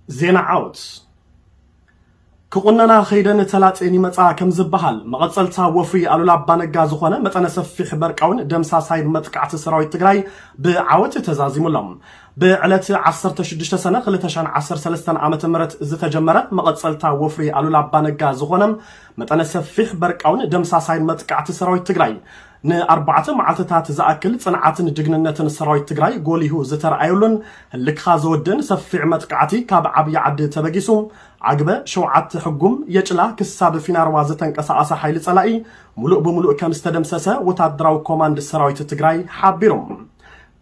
ዜና ዓወት ክቑነና ከይደን ተላጼን ይመፃ ከም ዝበሃል መቐፀልታ ወፍሪ ኣሉላ ኣባነጋ ዝኾነ መጠነ ሰፊሕ በርቃውን ደምሳሳይ መጥቃዕቲ ሰራዊት ትግራይ ብዓወት ተዛዚሙሎም ብዕለት 16 ሰነ 213 ዓ ም ዝተጀመረ መቐፀልታ ወፍሪ ኣሉላ ኣባነጋ ዝኾነ መጠነ ሰፊሕ በርቃውን ደምሳሳይ መጥቃዕቲ ሰራዊት ትግራይ ንኣርባዕተ መዓልትታት ዝኣክል ፅንዓትን ጅግንነትን ሰራዊት ትግራይ ጎሊሁ ዝተርኣየሉን ህልክኻ ዘወድእን ሰፊዕ መጥቃዕቲ ካብ ዓብዪ ዓዲ ተበጊሱ ዓግበ ሸውዓተ ሕጉም የጭላ ክሳብ ፊናርዋ ዝተንቀሳቐሰ ሓይሊ ፀላኢ ሙሉእ ብሙሉእ ከምዝተደምሰሰ ወታደራዊ ኮማንድ ሰራዊት ትግራይ ሓቢሩ።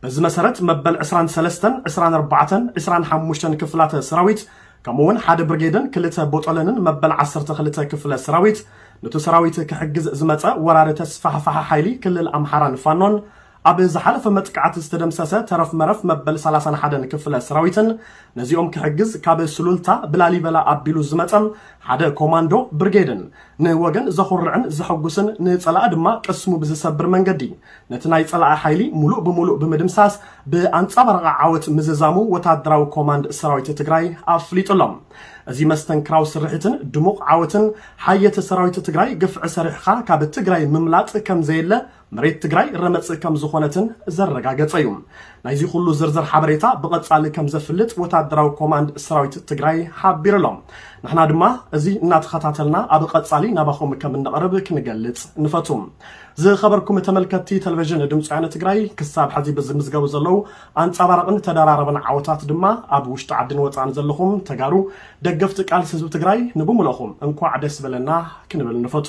በዚ መሰረት መበል ዕስራን ሰለስተን፣ ዕስራን ኣርባዕተን፣ ዕስራን ሓሙሽተን ክፍላተ ሰራዊት ከምኡውን ሓደ ብርጌድን ክልተ ቦጦለንን መበል ዓሰርተ ክልተ ክፍለ ሰራዊት ኑቲ ሰራዊት ክሕግዝ ዝመጸ ወራሪ ተስፋሕፋሒ ሓይሊ ክልል ኣምሓራን ፋኖን ኣብ ዝሓለፈ መጥቃዕቲ ዝተደምሰሰ ተረፍ መረፍ መበል ሰላሳን ሓደን ክፍለ ሰራዊትን ነዚኦም ክሕግዝ ካብ ሱሉልታ ብላሊበላ ኣቢሉ ዝመጸ ሓደ ኮማንዶ ብርጌድን ንወገን ዘኹርዕን ዘሐጉስን ንጸላኢ ድማ ቅስሙ ብዝሰብር መንገዲ ነቲ ናይ ጸላኢ ሓይሊ ሙሉእ ብሙሉእ ብምድምሳስ ብኣንጻባራቂ ዓወት ምዝዛሙ ወታደራዊ ኮማንድ ሰራዊት ትግራይ ኣፍሊጡ ኣሎ። እዚ መስተንክራዊ ስርሒትን ድሙቕ ዓወትን ሓየት ሰራዊት ትግራይ ግፍዒ ሰሪሕኻ ካብ ትግራይ ምምላጥ ከምዘየለ መሬት ትግራይ ረመጽ ከም ዝኾነትን ዘረጋገጸ እዩ። ናይዚ ኩሉ ዝርዝር ሓበሬታ ብቐጻሊ ከም ዘፍልጥ ወታደራዊ ኮማንድ ሰራዊት ትግራይ ሓቢሩ ኣሎ። ንሕና ድማ እዚ እናተኸታተልና ኣብ ቐጻሊ ናባኹም ከም እነቕርብ ክንገልጽ ንፈቱ። ዝኸበርኩም ተመልከትቲ ተለቨዥን ድምፂ ወያነ ትግራይ ክሳብ ሐዚ ብዝምዝገቡ ዘለው ኣንፃባራቕን ተደራረብን ዓወታት ድማ ኣብ ውሽጢ ዓድን ወፃእን ዘለኹም ተጋሩ ደገፍቲ ቃልሲ ህዝቢ ትግራይ ንብሙለኹም እንኳዕ ደስ በለና ክንብል ንፈቱ።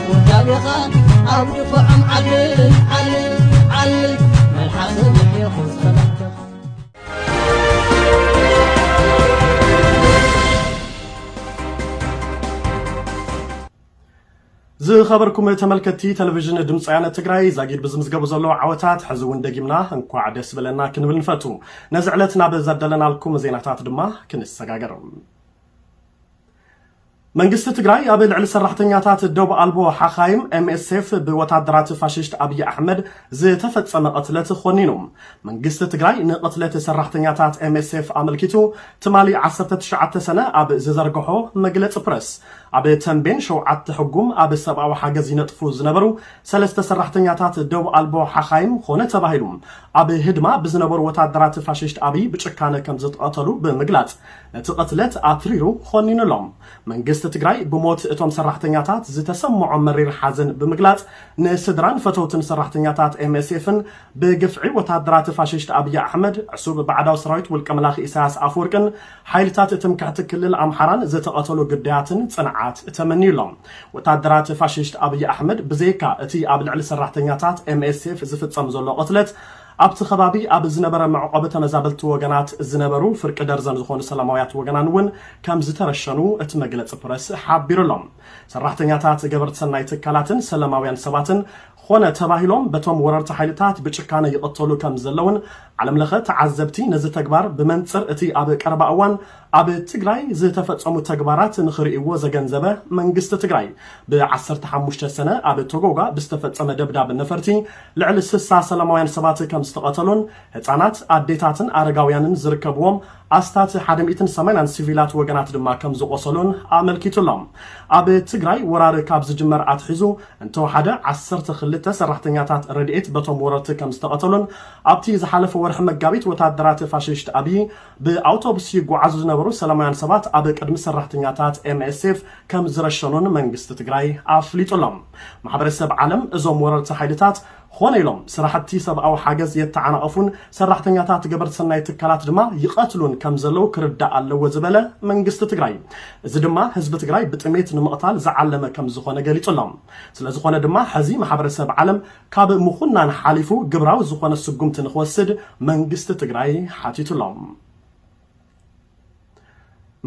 ውዳቤኻ ኣብ ድፋዖም ዓልል ዓልል ዓልል መልሓሰ ምሕየኹ ጸላእተኻ ዝኸበርኩም ተመልከትቲ ቴሌቪዥን ድምፂ ወያነ ትግራይ ዛጊድ ብዝምዝገቡ ዘለዉ ዓወታት ሕዚ እውን ደጊምና እንኳዕ ደስ በለና ክንብል ንፈቱ ነዚ ዕለት ናብ ዘደለናልኩም ዜናታት ድማ ክንሰጋገር መንግስቲ ትግራይ ኣብ ልዕሊ ሰራሕተኛታት ዶብ ኣልቦ ሓኻይም፣ MSF፣ ብወታደራት ፋሽስት ኣብይ ኣሕመድ ዝተፈጸመ ቅትለት ኾኒኑ። መንግስቲ ትግራይ ንቕትለት ሰራሕተኛታት MSF ኣመልኪቱ ትማሊ ዓሰርተ ትሽዓተ ሰነ ኣብ ዝዘርገሖ መግለጺ ፕረስ፣ ኣብ ተምቤን ሸውዓተ ሕጉም ኣብ ሰብኣዊ ሓገዝ ይነጥፉ ዝነበሩ ሰለስተ ሰራሕተኛታት ዶብ ኣልቦ ሓኻይም ኾነ ተባሂሉ ኣብ ህድማ ብዝነበሩ ወታደራት ፋሽስት ኣብይ ብጭካነ ከምዝተቐተሉ ብምግላጽ እቲ ቕትለት ኣትሪሩ ኾኒኑሎም። መንግስቲ ትግራይ ብሞት እቶም ሰራሕተኛታት ዝተሰመዖ መሪር ሓዘን ብምግላፅ ንስድራን ፈተውትን ሰራሕተኛታት ኤምኤስኤፍን ብግፍዒ ወታደራት ፋሽስት ኣብይ ኣሕመድ ዕሱብ ባዕዳዊ ሰራዊት ውልቀ መላኺ ኢሳያስ ኣፍወርቅን ሓይልታት ትምክሕቲ ክልል ኣምሓራን ዝተቐተሉ ግዳያትን ፅንዓት ተመንዩሎም። ወታደራት ፋሽስት ኣብይ ኣሕመድ ብዘይካ እቲ ኣብ ልዕሊ ሰራሕተኛታት ኤምኤስኤፍ ዝፍፀም ዘሎ ቕትለት ኣብቲ ከባቢ ኣብ ዝነበረ መዕቖቢ ተመዛበልቲ ወገናት ዝነበሩ ፍርቂ ደርዘን ዝኾኑ ሰላማውያት ወገናን እውን ከምዝተረሸኑ እቲ መግለፂ ፕረስ ሓቢሩ ኣሎ። ሰራሕተኛታት ገበርቲ ሰናይ ትካላትን ሰለማውያን ሰባትን ኾነ ተባሂሎም በቶም ወረርቲ ሓይልታት ብጭካነ ይቕተሉ ከምዘለውን ዓለምለኸ ተዓዘብቲ ነዚ ተግባር ብመንፅር እቲ ኣብ ቀረባ እዋን ኣብ ትግራይ ዝተፈፀሙ ተግባራት ንኽርእይዎ ዘገንዘበ መንግስቲ ትግራይ፣ ብ ዓሰርተ ሓሙሽተ ሰነ ኣብ ቶጎጋ ብዝተፈፀመ ደብዳብ ነፈርቲ ልዕሊ ስሳ ሰላማውያን ሰባት ከምዝተቐተሉን ህፃናት፣ ኣዴታትን ኣረጋውያንን ዝርከብዎም ኣስታት ሓደ ሚእትን ሰማንያን ሲቪላት ወገናት ድማ ከምዝቖሰሉን ኣመልኪቱ ኣሎ። ኣብ ትግራይ ወራር ካብ ዝጅመር ኣትሒዙ እንተወሓደ ዓሰርተ ክልተ ሰራሕተኛታት ረድኤት በቶም ወረርቲ ከምዝተቐተሉን ኣብቲ ዝሓለፈ ወርሒ መጋቢት ወታደራት ፋሽሽት ኣብዪ ብኣውቶቡስ ይጓዓዙ ዝነበሩ ሰላማውያን ሰባት ኣብ ቅድሚ ሰራሕተኛታት ኤምኤስኤፍ ከም ዝረሸኑን መንግስቲ ትግራይ ኣፍሊጡ ኣሎ። ማሕበረሰብ ዓለም እዞም ወረርቲ ሓይልታት ኾነ ኢሎም ስራሕቲ ሰብኣዊ ሓገዝ የተዓናቕፉን ሰራሕተኛታት ገበርቲ ሰናይ ትካላት ድማ ይቐትሉን ከም ዘለዉ ክርዳእ ኣለዎ ዝበለ መንግስቲ ትግራይ እዚ ድማ ህዝቢ ትግራይ ብጥሜት ንምቕታል ዝዓለመ ከም ዝኾነ ገሊፁ ኣሎ። ስለዝኾነ ድማ ሕዚ ማሕበረሰብ ዓለም ካብ ምኹናን ሓሊፉ ግብራዊ ዝኾነ ስጉምቲ ንኽወስድ መንግስቲ ትግራይ ሓቲቱ ኣሎ።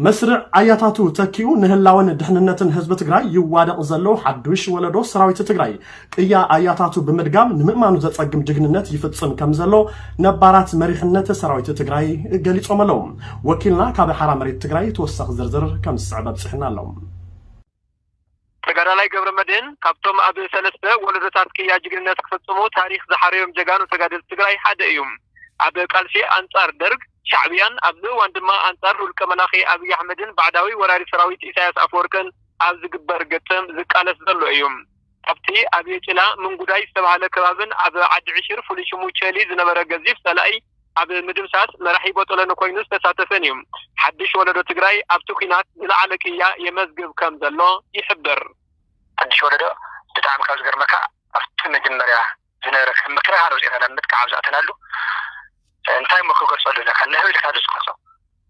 መስርዕ ኣያታቱ ተኪኡ ንህላወን ድሕንነትን ህዝቢ ትግራይ ይዋደቕ ዘሎ ሓዱሽ ወለዶ ሰራዊት ትግራይ ቅያ ኣያታቱ ብምድጋም ንምእማኑ ዘፀግም ጅግንነት ይፍፅም ከም ዘሎ ነባራት መሪሕነት ሰራዊት ትግራይ ገሊፆም ኣለዉ። ወኪልና ካብ ሓራ መሬት ትግራይ ተወሳኺ ዝርዝር ከም ዝስዕብ ኣብፂሑና ኣሎ። ተጋዳላይ ገብረመድህን ካብቶም ኣብ ሰለስተ ወለዶታት ቅያ ጅግንነት ክፍጽሙ ታሪኽ ዝሓረዮም ጀጋኑ ተጋደልቲ ትግራይ ሓደ እዩ። ኣብ ቃልሲ ኣንጻር ደርግ፣ ሻዕብያን ኣብዚ እዋን ድማ ኣንጻር ውልቀ መላኺ ኣብይ ኣሕመድን ባዕዳዊ ወራሪ ሰራዊት ኢሳያስ ኣፈወርቅን ኣብ ዝግበር ግጥም ዝቃለስ ዘሎ እዩ። ኣብቲ ኣብ የጭላ ምንጉዳይ ዝተባህለ ከባብን ኣብ ዓዲ ዕሽር ፍሉይ ሽሙ ቸሊ ዝነበረ ገዚፍ ፀላኢ ኣብ ምድምሳስ መራሒ ቦጦሎኒ ኮይኑ ዝተሳተፈን እዩ። ሓዱሽ ወለዶ ትግራይ ኣብቲ ኲናት ዝለዓለ ቅያ የመዝግብ ከም ዘሎ ይሕብር። ሓዱሽ ወለዶ ብጣዕሚ ካብ ዝገርመካ ኣብቲ መጀመርያ ዝነበረ ከም ምክልኻል ወፂእኻ ናብ ምጥቃዕ ኣብ ዝኣተናሉ እንታይ እሞ ክገልፆ ኣለካ ንህቢ ኢልካ ዶ ትገልፆ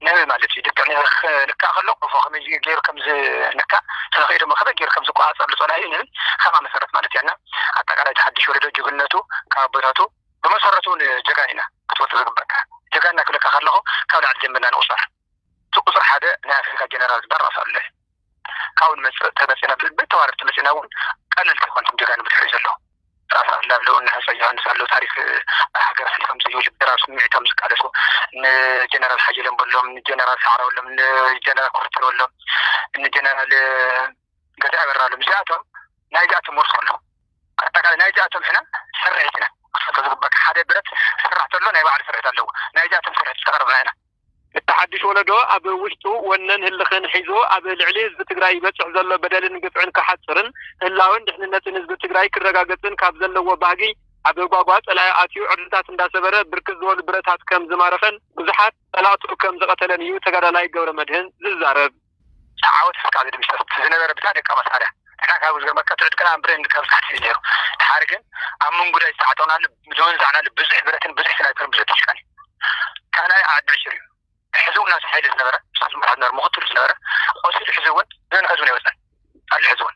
ንህቢ ማለት እዩ ልክዕ ንህቢ ክንካእ ከሎ ቆፎ ከመይ ገይሩ ከም ዝንካእ ተለኺኡ ድማ ከመይ ገይሩ ከም ዝቆፃፀር ልፆናዩ ንህቢ ከምኣ መሰረት ማለት እያ እና ኣጠቃላይ እቲ ሓድሽ ወለዶ ጅግነቱ ካብ ኣቦታቱ ብመሰረቱ እውን ጀጋን ኢና ክትፈልጦ ዝግበካ ጀጋንና ክብለካ ከለኹ ካብ ላዕሊ ጀሚርና ንቑፀር እቲ ቁፅሪ ሓደ ናይ ኣፍሪካ ጀነራል ዝበሃል ራስ ኣሉለ ካብኡ ንመፅእ ተመፂእና ብዝብል ተዋረድ ተመፂእና እውን ቀለልቲ ኣይኮንኩም ጀጋኑ ብድሕሪኡ ዘሎ ራስ ኣሉላ ኣለዉ እነ ሃፀይ ዮሃንስ ኣለዉ ታሪክ ኣብ ሃገር ኣሕሊፎም ዝይብል ብድራር ስምዒቶም ዝቃለሱ እነ ጀነራል ሓየሎም በሎም እነ ጀነራል ሰዓረ በሎም እነ ጀነራል ኩርተር በሎም እነ ጀነራል ገዛ ይበራሎም እዚኣቶም ናይዚኣቶም ወርሲ ከለኹ ኣጠቃላይ ናይዚኣቶም ሕነ ስርሒት ኢና ክፈቶ ዝግበካ ሓደ ብረት ዝስራሕ ተሎ ናይ ባዕሉ ስርሒት ኣለዎ ናይዚኣቶም ስርሒት ዝተቀረብና ኢና። እቲ ሓዱሽ ወለዶ ኣብ ውሽጡ ወነን ህልኽን ሒዙ ኣብ ልዕሊ ህዝቢ ትግራይ ይበፅሕ ዘሎ በደልን ግፍዕን ክሓፅርን ህላወን ድሕንነትን ህዝቢ ትግራይ ክረጋገፅን ካብ ዘለዎ ባህጊ ኣብ ጓጓ ፀላኢ ኣትዩ ዕርድታት እንዳሰበረ ብርክት ዝበሉ ብረታት ከም ዝማረኸን ብዙሓት ፀላእቱ ከም ዝቐተለን እዩ ተጋዳላይ ገብረመድህን ዝዛረብ። ዓወት እስካብ ዝድምሰስ እቲ ዝነበረ ብታ ደቃ መሳርያ ንሕና ካብ ዝገርመካ ትዑት ቅንኣን ብሬን ካብ ዝሓትት እዩ ነይሩ ድሓር ግን ኣብ ምንጉዳይ ዝተዓጠቅናሉ ዝወንዛዕናሉ ብዙሕ ብረትን ብዙሕ ስናይፐርን ብዙሕ ድሽቃን እዩ ካልኣይ ዓዲ ዕሽር እዩ ሕዚ እውን ናብቲ ሓይሊ ዝነበረ ንሱ ዝመርሖ ዝነበረ ምክትሉ ዝነበረ ቆሲሉ ሕዚ እውን ነንሕዚ እውን ኣይወፀን ኣሎ ሕዚ እውን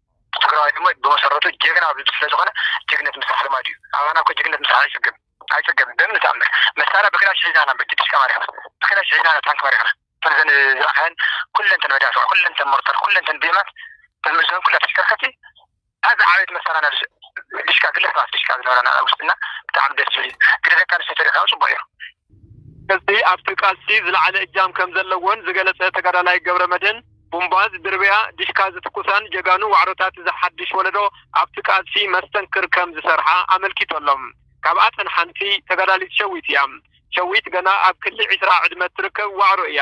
ትግራዋይ ድማ ብመሰረቱ ጀግና ኣብ ልዕሊ ስለዝኾነ ጅግነት ምስራሕ ልማዱ እዩ። ኣባና እኮ ጅግነት ምስራሕ ኣይፅገብን ኣይፅገብን ብምንም ተኣምር። መሳርያ ብክላሽ ሒዝና ኢና እምበር ድሽቃ ማሪኽና ብክላሽ ሒዝና ኢና ታንኪ ማሪኽና እተን እዘን ዝረኣኻየን ኩለን እተን መዳፍዕ ኩለን እተን ሞርተር ኩለን እተን ቢኤማት እተን ምእዝበን ኩላ ተሽከርከርቲ እታ ዝዓበየት መሳርያ ናብ ድሽቃ ግለሰባት ድሽቃ ዝነበራና ኣብ ውሽጥና ብጣዕሚ ደስ ዝብል እዩ። ግደ ደቂ ኣንስትዮ ተሪእኻዮ ፅቡቕ እዩ። ህዝቢ ኣብቲ ቃልሲ ዝለዓለ እጃም ከም ዘለዎን ዝገለፀ ተጋዳላይ ገብረመድህን ቡምባዝ፣ ድርብያ፣ ዲሽካ ዝትኩሳን ጀጋኑ ዋዕሮታት እዚ ሓዱሽ ወለዶ ኣብቲ ቃልሲ መስተንክር ከም ዝሰርሓ ኣመልኪቶሎም። ካብኣተን ሓንቲ ተጋዳሊት ሸዊት እያ። ሸዊት ገና ኣብ ክሊ ዕስራ ዕድመ እትርከብ ዋዕሮ እያ።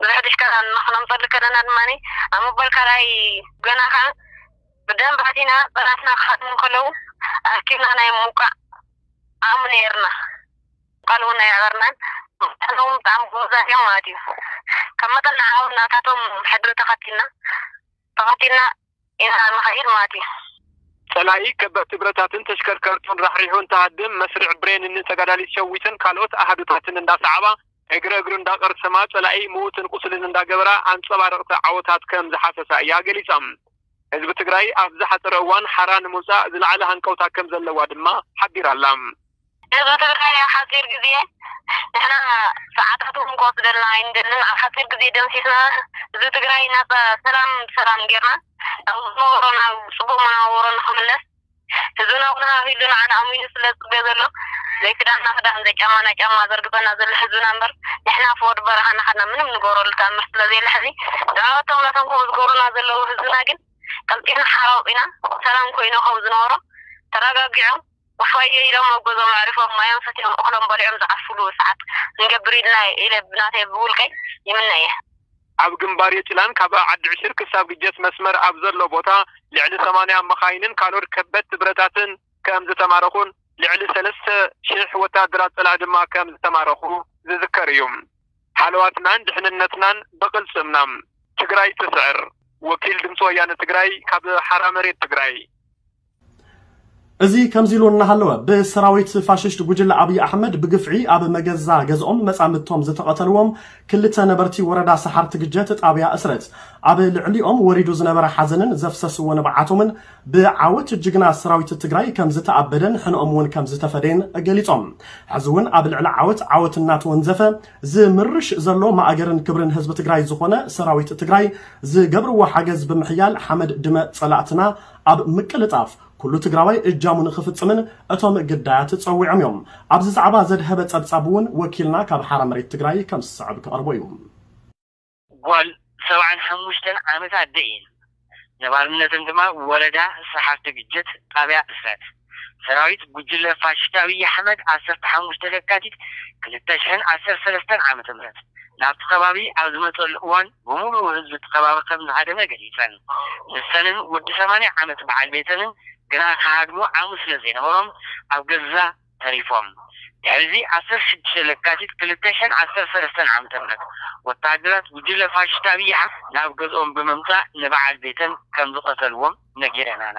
ብድሕሪት ከኣ ንክነምጸሉ ከለና ድማ ኣብ መበል ካልኣይ ገና ከኣ ብደንቢ ኣቲና ጸላእትና ክሃድሙ ከለዉ ኣኪብና ናይ ምውቃዕ ዓቕሚ ነይርና ቃል እውን ኣይኣበርናን መታን እውን ብጣዕሚ ጎበዛት እዮም ማለት እዩ ካብ መጠን ንዓኡ ናታቶም ሕድሪ ተኸቲልና ተኸቲልና ኢና እንኸይድ ማለት እዩ። ጸላኢ ከበድቲ ብረታትን ተሽከርከርቱን ራሕሪሑ እንትሃድም፣ መስርዕ ብሬን ን ተጋዳሊት ሸዊትን ካልኦት ኣሃዱታትን እንዳሰዓባ፣ እግሪ እግሩ እንዳቐርሰማ፣ ጸላኢ ምዉትን ቁስልን እንዳገበራ ኣንጸባረቕቲ ዓወታት ከም ዝሓሰሳ እያ ገሊጻ። ህዝቢ ትግራይ ኣብ ዝሓጸረ እዋን ሓራ ንምውጻእ ዝለዓለ ሃንቀውታ ከም ዘለዋ ድማ ሓቢራ'ላ። ህዝቢ ትግራይ ኣብ ሓፂር ግዜ ንሕና ሰዓታት እውን ክወስደልና ኣይንደልን ኣብ ሓፂር ግዜ ደምሲስና ህዝቢ ትግራይ ናፃ ሰላም ብሰላም ገይርና ናብ ዝነበሮ ናብ ፅቡቅ መነባብሮ ንክምለስ ህዝብና እውን ሃህይሉ ንዓና ኣሚኑ ስለ ዝፅበ ዘሎ ዘይክዳንና ክዳን ዘይጫማና ጫማ ዘርግፀና ዘሎ ህዝብና እምበር ንሕና ፍወድ በረኻ ናኸድና ምንም ንገብረሉ ተኣምር ስለ ዘየለ ሕዚ ንዕቀቶም ነቶም ከምኡ ዝገብሩና ዘለዉ ህዝብና ግን ቀልጢፍና ሓራ ወፂና ሰላም ኮይኑ ከም ዝነበሮ ተረጋጊዖም እፎይይ ኢሎም ኣብ ገዝኦም ኣዕሪፎም ማዮም ሰትዮም እኽሎም በሊዖም ዝዓርፍሉ ሰዓት ክንገብር ኢልና ኢለ ብናተይ ብውልቀይ ይምነ እየ። ኣብ ግንባር የጭላን ካብ ዓዲ ዕሽር ክሳብ ግጀት መስመር ኣብ ዘሎ ቦታ ልዕሊ ሰማንያ መኻይንን ካልኦት ከበድቲ ብረታትን ከም ዝተማረኹን ልዕሊ ሰለስተ ሽሕ ወታሃደራት ፀላኢ ድማ ከም ዝተማረኹ ዝዝከር እዩ። ሃለዋትናን ድሕንነትናን ብቕልፅምና! ትግራይ ትስዕር! ወኪል ድምፂ ወያነ ትግራይ ካብ ሓራ መሬት ትግራይ። እዚ ከምዚ ኢሉ እናሃለወ ብሰራዊት ፋሽስት ጉጅለ ኣብይ ኣሕመድ ብግፍዒ ኣብ መገዛ ገዝኦም መጻምድቶም ዝተቐተልዎም ክልተ ነበርቲ ወረዳ ሰሓርቲ ግጀት ጣብያ እስረት ኣብ ልዕሊኦም ወሪዱ ዝነበረ ሓዘንን ዘፍሰስዎ ንብዓቶምን ብዓወት ጅግና ሰራዊት ትግራይ ከምዝተኣበደን ሕነኦም እውን ከምዝተፈደየን ገሊፆም። ሕዚ እውን ኣብ ልዕሊ ዓወት ዓወት እናተወንዘፈ ዝምርሽ ዘሎ ማእገርን ክብርን ህዝቢ ትግራይ ዝኾነ ሰራዊት ትግራይ ዝገብርዎ ሓገዝ ብምሕያል ሓመድ ድመ ፀላእትና ኣብ ምቅልጣፍ ኩሉ ትግራዋይ እጃሙ ንኽፍፅምን እቶም ግዳያት ፀዊዖም እዮም። ኣብዚ ዛዕባ ዘድሀበ ፀብፃብ እውን ወኪልና ካብ ሓራ መሬት ትግራይ ከም ዝስዕብ ክቐርቦ እዩ። ጓል ሰብዓን ሓሙሽተን ዓመት ኣደ እየን። ነባርነተን ድማ ወረዳ ስሓርቲ ግጀት ጣብያ እስረት። ሰራዊት ጉጅለ ፋሽስት ኣብይ ኣሕመድ ዓሰርተ ሓሙሽተ ለካቲት ክልተ ሽሕን ዓሰርተ ሰለስተን ዓመተ ምህረት ናብቲ ከባቢ ኣብ ዝመፀሉ እዋን ብሙሉኡ ህዝቢ እቲ ከባቢ ከም ዝሃደመ ገሊፀን። ንሰንን ወዲ ሰማንያ ዓመት በዓል ቤተንን ግና ክሃድሙ ዓቕሚ ስለ ዘይነበሮም ኣብ ገዛ ተሪፎም። ድሕሪ እዚ ዓሰርተ ሽዱሽተ ለካቲት ክልተ ሽሕን ዓሰርተ ሰለስተን ዓመተ ምህረት ወተሃደራት ጉጅለ ፋሽስት ኣብይ ኣሕመድ ናብ ገዝኦም ብምምፃእ ንበዓል ቤተን ከም ዝቐተልዎም ነጊረናና።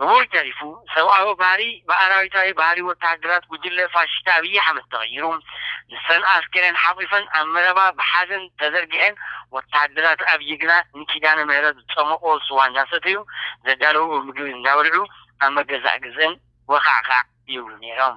ብኡ ተሪፉ ሰብኣዊ ባህሪ ብኣራዊታዊ ባህሪ ወተሃደራት ጉጅለ ፋሽስት ኣብይ ኣሕመድ ተቐይሩ ንሰን ኣስከሬን ሓቑፈን ኣብ መረባ ብሓዘን ተዘርጊሐን ወተሃደራት ኣብይ ግና ንኪዳነ ምህረት ዝፀሞቑዎ ስዋ እንዳሰተዩ ዘዳለዉዎ ምግቢ እንዳበልዑ ኣብ መገዛእ ግዘን ወኻዕኻዕ ይብሉ ነይሮም።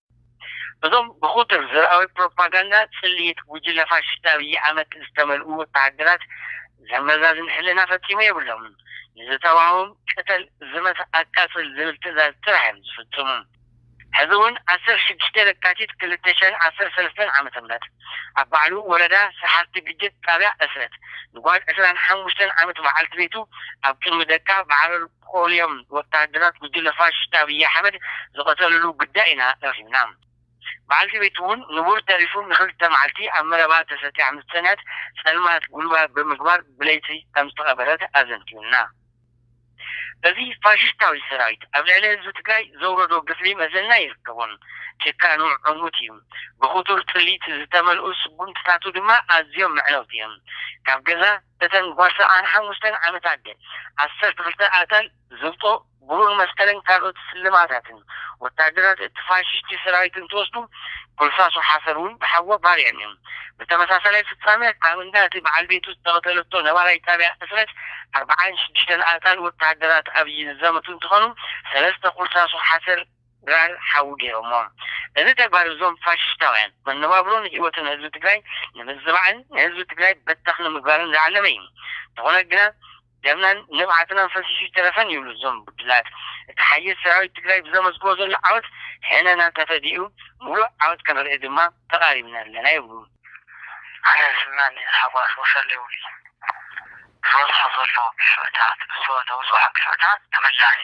እዞም ብኩቱር ዘርኣዊ ፕሮፓጋንዳ ጽልኢት ጉጅለ ፋሽስት ኣብይ ኣሕመድ ዝተመልኡ ወተሃደራት ዘመዛዝን ሕልና ፈጺሙ የብሎምን። ንዝተዋህቦም ቅተል፣ ዝመት፣ ኣቃጽል ዝብል ትእዛዝ ጥራሕ እዮም ዝፍጽሙ። ሕዚ እውን ዓሰርተ ሽዱሽተ ለካቲት ክልተ ሽሕን ዓሰርተ ሰለስተን ዓመተ ምህረት ኣብ ባዕሉ ወረዳ ሰሓርቲ ግድብ ጣብያ ዕስረት ንጓል ዕስራን ሓሙሽተን ዓመት በዓልቲ ቤቱ ኣብ ቅድሚ ደቃ ብዓረር ኦልዮም ወተሃደራት ጉጅለ ፋሽስት ኣብይ ኣሕመድ ዝቐተልሉ ጉዳይ ኢና ረኺብና። በዓልቲ ቤቱ'ውን ንቡር ተሪፉ ንኽልተ መዓልቲ ኣብ መረባ ተሰትያ ምስ ጸንሐት ጸልማት ጉልባብ ብምግባር ብለይቲ ከም ዝተቐበረት ኣዘንትዩልና። እዚ ፋሽስታዊ ሰራዊት ኣብ ልዕሊ ህዝቢ ትግራይ ዘውረዶ ግፍዒ መዘና የርከቦን። ጭካኑ ዕሙት እዩ። ብኽቱር ጽልኢት ዝተመልኡ ስጉምትታቱ ድማ ኣዝዮም መዕነውቲ እዮም። ካብ ገዛ። እተን ጓሳ ሓሙሽተን ዓመታት ግን ዓሰርተ ክልተ ኣጣል ዝብጦ፣ ብሩር መስቀልን ካልኦት ስልማታትን ወተሃደራት እቲ ፋሽሽቲ ሰራዊት እንትወስዱ፣ ጎልሳሶ ሓሰር እውን ብሓጎ ባርየን እየን። ብተመሳሳላይ ፍጻመ ኣብ እንዳ እቲ በዓል ቤቱ ዝተቐተለቶ ነባራይ ጣብያ ዕስረት ኣርብዓን ሽዱሽተን ኣጣል ወተሃደራት ኣብይ ዝዘመቱ እንትኾኑ፣ ሰለስተ ኩልሳሶ ሓሰር፣ ድራር ሓዊ ገይሮሞ እዚ ተግባር እዞም ፋሽሽታውያን መነባብሮን ሂወትን ህዝቢ ትግራይ ንምዝባዕን ንህዝቢ ትግራይ በተኽ ንምግባርን ዝዓለመ እዩ እንተኾነ ግና ደምናን ንብዓትናን ፈሲሱ ኣይተረፈን ይብሉ እዞም ብድላት እቲ ሓይል ሰራዊት ትግራይ ብዘመዝግቦ ዘሎ ዓወት ሕነና ተፈዲኡ ሙሉእ ዓወት ከነርኢ ድማ ተቓሪብና ኣለና ይብሉ። ኣነ ስምና ንታሕጓስ ወሰልዊ ዝበፅሖ ዘሎ ግፍዕታት ብዝወደኡ ዝወሓ ግፍዕታት ተመላሲ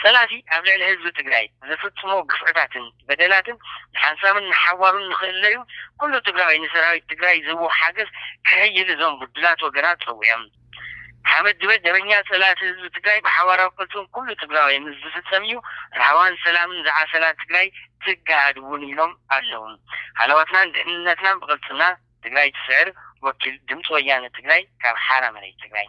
ፀላእቲ ኣብ ልዕሊ ህዝቢ ትግራይ ዘፍፅሞ ግፍዕታትን በደላትን ንሓንሳብን ንሓዋሩን ንክእለዩ ኩሉ ትግራዋይ ንሰራዊት ትግራይ ዝህቦ ሓገዝ ከሕይል እዞም ብዱላት ወገናት ፀዊዖም። ሓመድበ ደበኛ ፀላእቲ ህዝቢ ትግራይ ብሓባራዊ ቅልፅም ኩሉ ትግራዋይ ምስ ዝፍፀም እዩ ራህዋን ሰላምን ዝዓሰላ ትግራይ ትገሃድ እውን ኢሎም ኣለው። ሃለዋትናን ድሕንነትናን ብቅልፅምና ትግራይ ትስዕር ወኪል ድምፂ ወያነ ትግራይ ካብ ሓራ መሬት ትግራይ።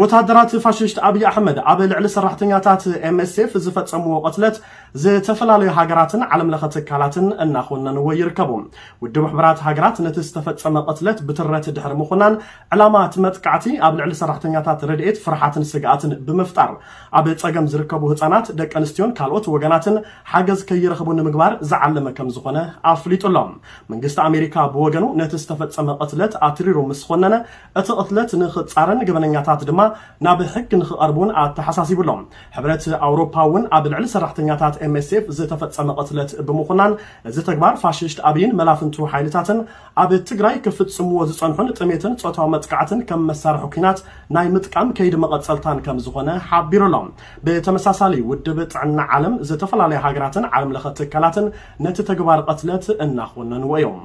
ወተሃደራት ፋሽስት ኣብይ ኣሕመድ ኣብ ልዕሊ ሰራሕተኛታት ኤምኤስኤፍ ዝፈፀምዎ ቅትለት ዝተፈላለዩ ሃገራትን ዓለም ለኸ ትካላትን እናኾነንዎ ይርከቡ። ውድብ ሕቡራት ሃገራት ነቲ ዝተፈፀመ ቅትለት ብትረት ድሕሪ ምኹናን ዕላማ እቲ መጥቃዕቲ ኣብ ልዕሊ ሰራሕተኛታት ረድኤት ፍርሓትን ስግኣትን ብምፍጣር ኣብ ፀገም ዝርከቡ ህፃናት፣ ደቂ ኣንስትዮን ካልኦት ወገናትን ሓገዝ ከይረኽቡ ንምግባር ዝዓለመ ከምዝኾነ ኣፍሊጡ'ሎ። መንግስቲ ኣሜሪካ ብወገኑ ነቲ ዝተፈፀመ ቅትለት ኣትሪሩ ምስኾነነ እቲ ቅትለት ንኽፃረን ገበነኛታት ድማ ናብ ሕጊ ንኽቐርቡ እውን ኣተሓሳሲቡ ኣሎ። ሕብረት ኣውሮፓ እውን ኣብ ልዕሊ ሰራሕተኛታት ኤምኤስኤፍ ዝተፈፀመ ቅትለት ብምኹናን እዚ ተግባር ፋሽስት ኣብይን መላፍንቱ ሓይልታትን ኣብ ትግራይ ክፍፅምዎ ዝፀንሑን ጥሜትን ፆታዊ መጥቃዕትን ከም መሳርሒ ኲናት ናይ ምጥቃም ከይዲ መቐፀልታን ከምዝኾነ ሓቢሩ ኣሎ። ብተመሳሳሊ ውድብ ጥዕና ዓለም ዝተፈላለያ ሃገራትን ዓለም ለኸ ትካላትን ነቲ ተግባር ቅትለት እናኾነንዎ እዮም።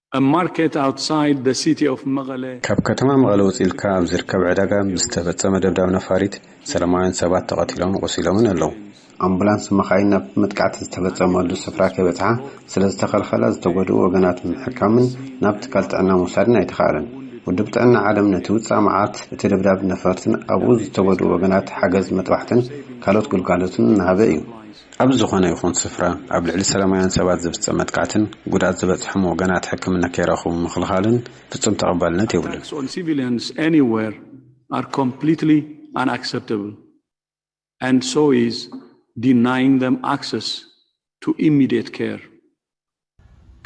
A market outside the city of Meqele. ካብ ከተማ መቐለ ውፅእ ኢልካ ኣብ ዝርከብ ዕዳጋ ብዝተፈፀመ ደብዳብ ነፋሪት ሰላማውያን ሰባት ተቐቲሎምን ቆሲሎምን ኣለው። ኣምቡላንስ መኻይን ናብ መጥቃዕቲ ዝተፈፀመሉ ስፍራ ከይበፅሓ ስለዝተኸልኸላ ዝተጎድኡ ወገናት ንምሕካምን ናብ ትካል ጥዕና ምውሳድን ኣይተኽኣለን። ውድብ ጥዕና ዓለም ነቲ ውፃእ መዓት እቲ ደብዳብ ነፈርትን ኣብኡ ዝተጎድኡ ወገናት ሓገዝ መጥባሕትን ካልኦት ግልጋሎትን እናሃበ እዩ። ኣብ ዝኾነ ይኹን ስፍራ ኣብ ልዕሊ ሰላማውያን ሰባት ዝፍጸም መጥቃዕትን ጉድኣት ዝበጽሖም ወገናት ሕክምና ከይረኽቡ ምኽልኻልን ፍጹም ተቐባልነት የብሉን።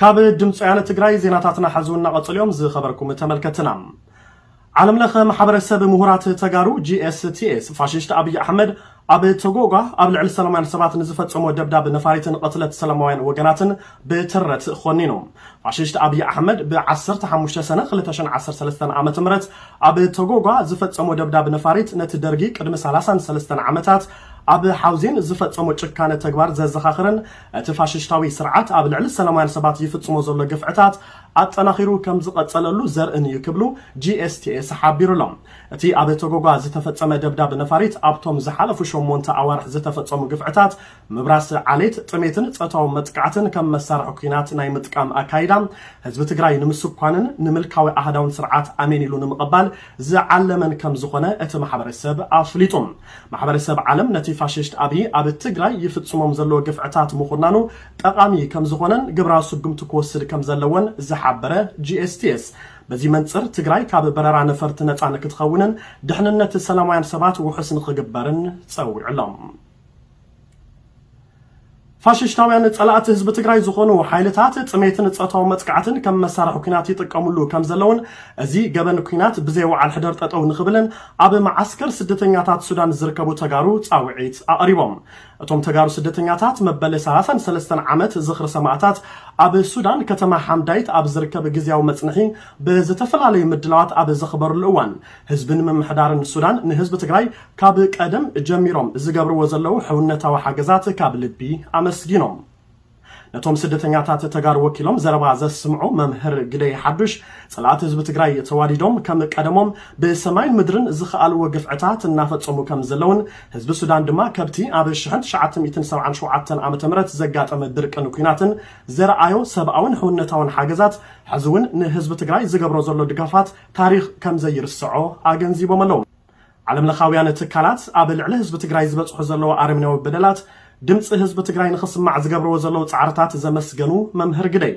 ካብ ድምፂ ወያነ ትግራይ ዜናታትና ሐዚ እና ቀፅሉ እዮም ዝኸበርኩም ተመልከትና። ዓለም ለኸ ማሕበረሰብ ምሁራት ተጋሩ GSTS ፋሽስት ኣብይ ኣሕመድ ኣብ ቶጎጓ ኣብ ልዕሊ ሰላማውያን ሰባት ንዝፈፀሞ ደብዳብ ነፋሪትን ቕትለት ሰላማውያን ወገናትን ብትረት ኾኒኑ። ፋሽስት ኣብይ ኣሕመድ ብ ዓሰርተ ሓሙሽተ ሰነ ክልተ ሽሕን ዓሰርተ ሰለስተን ዓመተ ምህረት ኣብ ቶጎጓ ዝፈፀሞ ደብዳብ ነፋሪት ነቲ ደርጊ ቅድሚ ሰላሳን ሰለስተን ዓመታት ኣብ ሓውዜን ዝፈፀሞ ጭካነ ተግባር ዘዘኻኽርን እቲ ፋሽሽታዊ ስርዓት ኣብ ልዕሊ ሰላማውያን ሰባት ይፍፅሞ ዘሎ ግፍዕታት ኣጠናኺሩ ከምዝቐፀለሉ ዘርእን እዩ ክብሉ GSTS ሓቢሩ ኣሎ። እቲ ኣብ ቶጎጓ ዝተፈፀመ ደብዳብ ነፋሪት ኣብቶም ዝሓለፉ ሸሞንተ ኣዋርሕ ዝተፈፀሙ ግፍዕታት ምብራስ ዓሌት፣ ጥሜትን ፆታዊ መጥቃዕትን ከም መሳርሒ ኲናት ናይ ምጥቃም ኣካይዳ ህዝቢ ትግራይ ንምስኳንን ንምልካዊ ኣሃዳውን ስርዓት ኣሜን ኢሉ ንምቕባል ዝዓለመን ከምዝኾነ እቲ ማሕበረሰብ ኣፍሊጡ። ማሕበረሰብ ዓለም ነቲ ፋሽስት ኣብይ ኣብ ትግራይ ይፍፅሞም ዘሎ ግፍዕታት ምኹናኑ ጠቓሚ ከምዝኾነን ግብራዊ ስጉምቲ ክወስድ ከምዘለዎን ዝሓበረ GSTS በዚ መንፅር ትግራይ ካብ በረራ ነፈርቲ ነፃ ንክትኸውንን ድሕንነት ሰላማውያን ሰባት ውሑስ ንክግበርን ፀዊዑ ኣሎ። ፋሽሽታውያን ፀላእቲ ህዝቢ ትግራይ ዝኾኑ ሓይልታት ጥሜትን ፆታዊ መጥቃዕትን ከም መሳርሒ ኲናት ይጥቀምሉ ከም ዘለዉን እዚ ገበን ኲናት ብዘይ ወዓል ሕደር ጠጠው ንኽብልን ኣብ መዓስከር ስደተኛታት ሱዳን ዝርከቡ ተጋሩ ፃውዒት ኣቕሪቦም። እቶም ተጋሩ ስደተኛታት መበል ሰላሳን ሰለስተን ዓመት ዝኽሪ ሰማእታት ኣብ ሱዳን ከተማ ሓምዳይት ኣብ ዝርከብ ግዝያዊ መፅንሒ ብዝተፈላለዩ ምድላዋት ኣብ ዘኽበርሉ እዋን ህዝብን ምምሕዳርን ሱዳን ንህዝቢ ትግራይ ካብ ቀደም ጀሚሮም ዝገብርዎ ዘለዉ ሕውነታዊ ሓገዛት ካብ ልቢ ኣመስጊኖም። ነቶም ስደተኛታት ተጋሩ ወኪሎም ዘረባ ዘስምዑ መምህር ግደይ ሓዱሽ፣ ፀላእቲ ህዝቢ ትግራይ ተዋዲዶም ከም ቀደሞም ብሰማይን ምድርን ዝኸኣልዎ ግፍዕታት እናፈፀሙ ከም ዘለዉን ህዝቢ ሱዳን ድማ ከብቲ ኣብ ሽሕን ትሽዓተ ሚእትን ሰብዓን ሸውዓተን ዓመተ ምህረት ዘጋጠመ ድርቅን ኩናትን ዘርኣዮ ሰብኣዊን ሕውነታዊን ሓገዛት ሕዚ እውን ንህዝቢ ትግራይ ዝገብሮ ዘሎ ድጋፋት ታሪኽ ከም ዘይርሰዖ ኣገንዚቦም ኣለዉ። ዓለምለኻውያን ትካላት ኣብ ልዕሊ ህዝቢ ትግራይ ዝበፅሑ ዘለዉ ኣረሜናዊ በደላት ድምፂ ህዝቢ ትግራይ ንኽስማዕ ዝገብርዎ ዘለዉ ፃዕርታት ዘመስገኑ መምህር ግደይ፣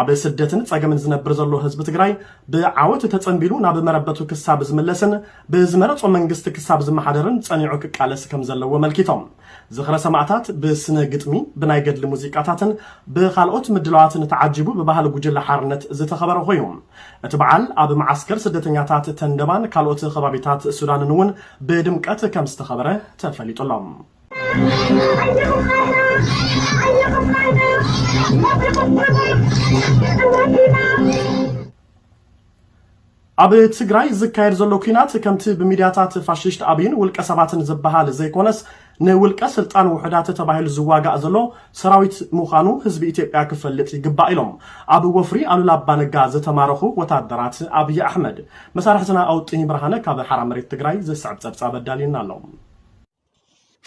ኣብ ስደትን ፀገምን ዝነብር ዘሎ ህዝቢ ትግራይ ብዓወት ተፀምቢሉ ናብ መረበቱ ክሳብ ዝምለስን ብዝመረፆ መንግስቲ ክሳብ ዝመሓደርን ፀኒዑ ክቃለስ ከምዘለዎ ኣመልኪቶም። ዝኽረ ሰማእታት ብስነ ግጥሚ፣ ብናይ ገድሊ ሙዚቃታትን ብኻልኦት ምድላዋትን ተዓጂቡ ብባህሊ ጉጅለ ሓርነት ዝተኸበረ ኮይኑ፣ እቲ በዓል ኣብ መዓስከር ስደተኛታት ተንደባን ካልኦት ከባቢታት ሱዳንን እውን ብድምቀት ከምዝተኸበረ ተፈሊጡ ኣሎ። ኣብ ትግራይ ዝካየድ ዘሎ ኲናት ከምቲ ብሚድያታት ፋሽስት ኣብይን ውልቀ ሰባትን ዝበሃል ዘይኮነስ ንውልቀ ስልጣን ውሑዳት ተባሂሉ ዝዋጋእ ዘሎ ሰራዊት ምዃኑ ህዝቢ ኢትዮጵያ ክፈልጥ ይግባእ ኢሎም ኣብ ወፍሪ ኣሉላ ኣባነጋ ዝተማረኹ ወታደራት ኣብይ ኣሕመድ። መሳርሕትና ኣውጥኝ ብርሃነ ካብ ሓራ መሬት ትግራይ ዝስዕብ ፀብፃብ ኣዳልዩና ኣሎ።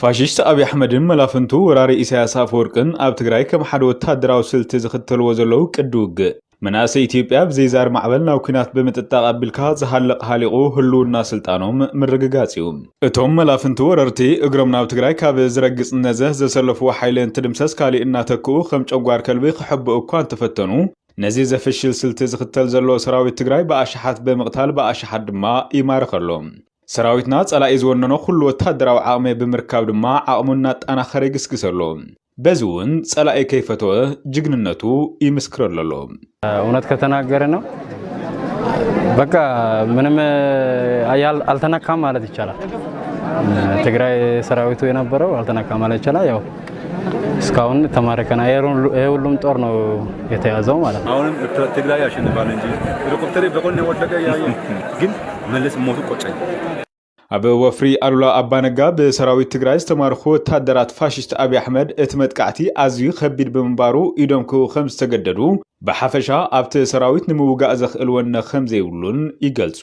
ፋሽስት ኣብይ ኣሕመድን መላፍንቱ ወራሪ ኢሳያስ ኣፈወርቅን ኣብ ትግራይ ከም ሓደ ወታደራዊ ስልቲ ዝኽተልዎ ዘለዉ ቅዲ ውግእ መናእሰይ ኢትዮጵያ ብዘይ ዛር ማዕበል ናብ ኲናት ብምጥጣቕ ኣቢልካ ዝሃልቕ ሃሊቑ ህልውና ስልጣኖም ምርግጋጽ እዩ። እቶም መላፍንቲ ወረርቲ እግሮም ናብ ትግራይ ካብ ዝረግጽ ነዘ ዘሰለፍዎ ሓይሊ እንትድምሰስ ካሊእ እናተክኡ ከም ጨጓር ከልቢ ክሕብኡ እኳ እንተፈተኑ ነዚ ዘፍሽል ስልቲ ዝኽተል ዘሎ ሰራዊት ትግራይ ብኣሽሓት ብምቕታል ብኣሽሓት ድማ ይማርኸሎም። ሰራዊትና ጸላኢ ዝወነኖ ኩሉ ወተሃደራዊ ዓቕሚ ብምርካብ ድማ ዓቕሙ እናጣናኸረ ይግስግስ ኣሎ። በዚ እውን ጸላኢ ከይፈተወ ጅግንነቱ ይምስክረሉ ኣሎ። እውነት ከተናገረ ነው በቃ ምንም አልተነካም ማለት ይቻላል። ትግራይ ሰራዊቱ የነበረው አልተነካም ማለት ይቻላል ያው እስካሁን ተማረከ ና ይሄ ሁሉም ጦር ነው የተያዘው ማለት ነው። አሁንም ትግራይ ያሸንፋል እንጂ ሄሊኮፕተር በቆን ወደቀ ያየ ግን መለስ ሞቱ ቆጨኝ። ኣብ ወፍሪ ኣሉላ ኣባነጋ ብሰራዊት ትግራይ ዝተማርኹ ወታደራት ፋሽስት ኣብዪ ኣሕመድ እቲ መጥቃዕቲ ኣዝዩ ከቢድ ብምንባሩ ኢዶም ክህቡ ከም ዝተገደዱ ብሓፈሻ ኣብቲ ሰራዊት ንምውጋእ ዘኽእል ወነ ከም ዘይብሉን ይገልጹ።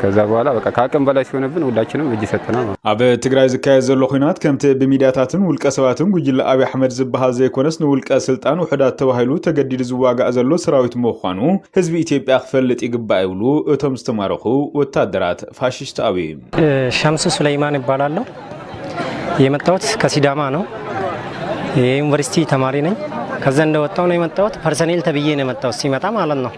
ከዛ በኋላ በቃ ከአቅም በላይ ሲሆንብን ሁላችንም እጅ ሰጠና። ኣብ ትግራይ ዝካየድ ዘሎ ኩናት ከምቲ ብሚድያታትን ውልቀ ሰባትን ጉጅለ ኣብይ ኣሕመድ ዝበሃል ዘይኮነስ ንውልቀ ስልጣን ውሕዳት ተባሂሉ ተገዲዱ ዝዋጋእ ዘሎ ሰራዊት ምዃኑ ህዝቢ ኢትዮጵያ ክፈልጥ ይግባእ ይብሉ እቶም ዝተማረኹ ወታደራት ፋሽስት ኣብይ። ሸምሱ ሱለይማን ይባላለሁ። የመጣሁት ከሲዳማ ነው። የዩኒቨርሲቲ ተማሪ ነኝ። ከዛ እንደወጣሁ ነው የመጣሁት። ፐርሰኔል ተብዬ ነው የመጣሁት ሲመጣ ማለት ነው።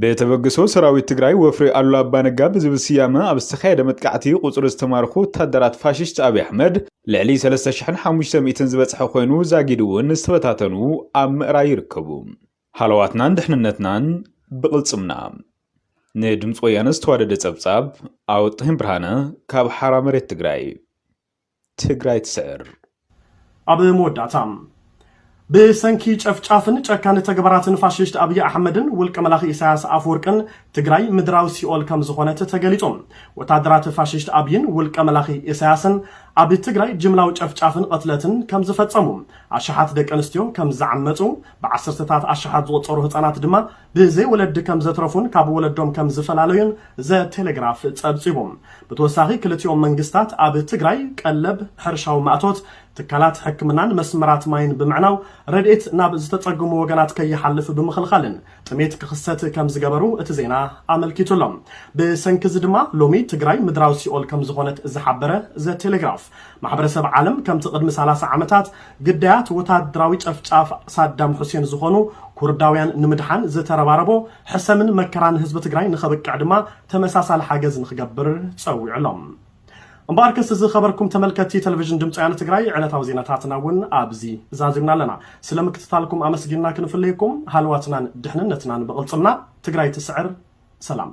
ብተበግሶ ሰራዊት ትግራይ ወፍሪ ኣሉላ ኣባነጋ ብዝብል ስያመ ኣብ ዝተኻየደ መጥቃዕቲ ቁፅሪ ዝተማርኹ ወታደራት ፋሽስት ኣብይ ኣሕመድ ልዕሊ 3500 ዝበፅሐ ኮይኑ ዛጊድ እውን ዝተበታተኑ ኣብ ምእራይ ይርከቡ። ሃለዋትናን ድሕንነትናን ብቕልፅምና! ንድምፂ ወያነ ዝተዋደደ ፀብፃብ፣ ኣወጣሂን ብርሃነ ካብ ሓራ መሬት ትግራይ። ትግራይ ትስዕር! ኣብ መወዳእታ። ብሰንኪ ጨፍጫፍን ጨካን ተግባራትን ፋሽስት ኣብይ ኣሕመድን ውልቀ መላኺ ኢሳያስ ኣፈወርቅን ትግራይ ምድራዊ ሲኦል ከምዝኾነት ተገሊፁ። ወታደራት ፋሽስት ኣብይን ውልቀ መላኺ ኢሳያስን ኣብ ትግራይ ጅምላዊ ጨፍጫፍን ቕትለትን ከምዝፈፀሙ፣ ኣሽሓት ደቂ ኣንስትዮ ከምዝዓመፁ፣ ብዓሰርተታት ኣሽሓት ዝቑፀሩ ህፃናት ድማ ብዘይ ወለዲ ከም ዘትረፉን ካብ ወለዶም ከም ዝፈላለዩን ዘ-ቴሌግራፍ ፀብፂቡ። ብተወሳኺ ክልቲኦም መንግስታት ኣብ ትግራይ ቀለብ፣ ሕርሻዊ ማእቶት፣ ትካላት ሕክምናን መስመራት ማይን ብምዕናው ረድኤት ናብ ዝተፀግሙ ወገናት ከይሓልፍ ብምኽልኻልን ጥሜት ክኽሰት ከም ዝገበሩ እቲ ዜና ኣመልኪቱ ኣሎ። ብሰንኪ እዚ ድማ ሎሚ ትግራይ ምድራዊ ሲኦል ከም ዝኾነት ዝሓበረ ዘ-ቴሌግራፍ፣ ማሕበረሰብ ዓለም ከምቲ ቅድሚ ሰላሳ ዓመታት ግዳያት ወታደራዊ ጨፍጫፍ ሳዳም ሑሴን ዝኾኑ ኩርዳውያን ንምድሓን ዝተረባረቦ ሕሰምን መከራን ህዝቢ ትግራይ ንኸብቅዕ ድማ ተመሳሳሊ ሓገዝ ንኽገብር ፀዊዑ ኣሎ። እምበኣር ከስ ዝኸበርኩም ተመልከቲ ቴሌቪዥን ድምፂ ወያነ ትግራይ ዕለታዊ ዜናታትና እውን ኣብዚ ዛዚምና ኣለና። ስለ ምክትታልኩም ኣመስጊንና ክንፍለየኩም ሃልዋትናን ድሕንነትናን ብቕልፅምና ትግራይ ትስዕር ሰላም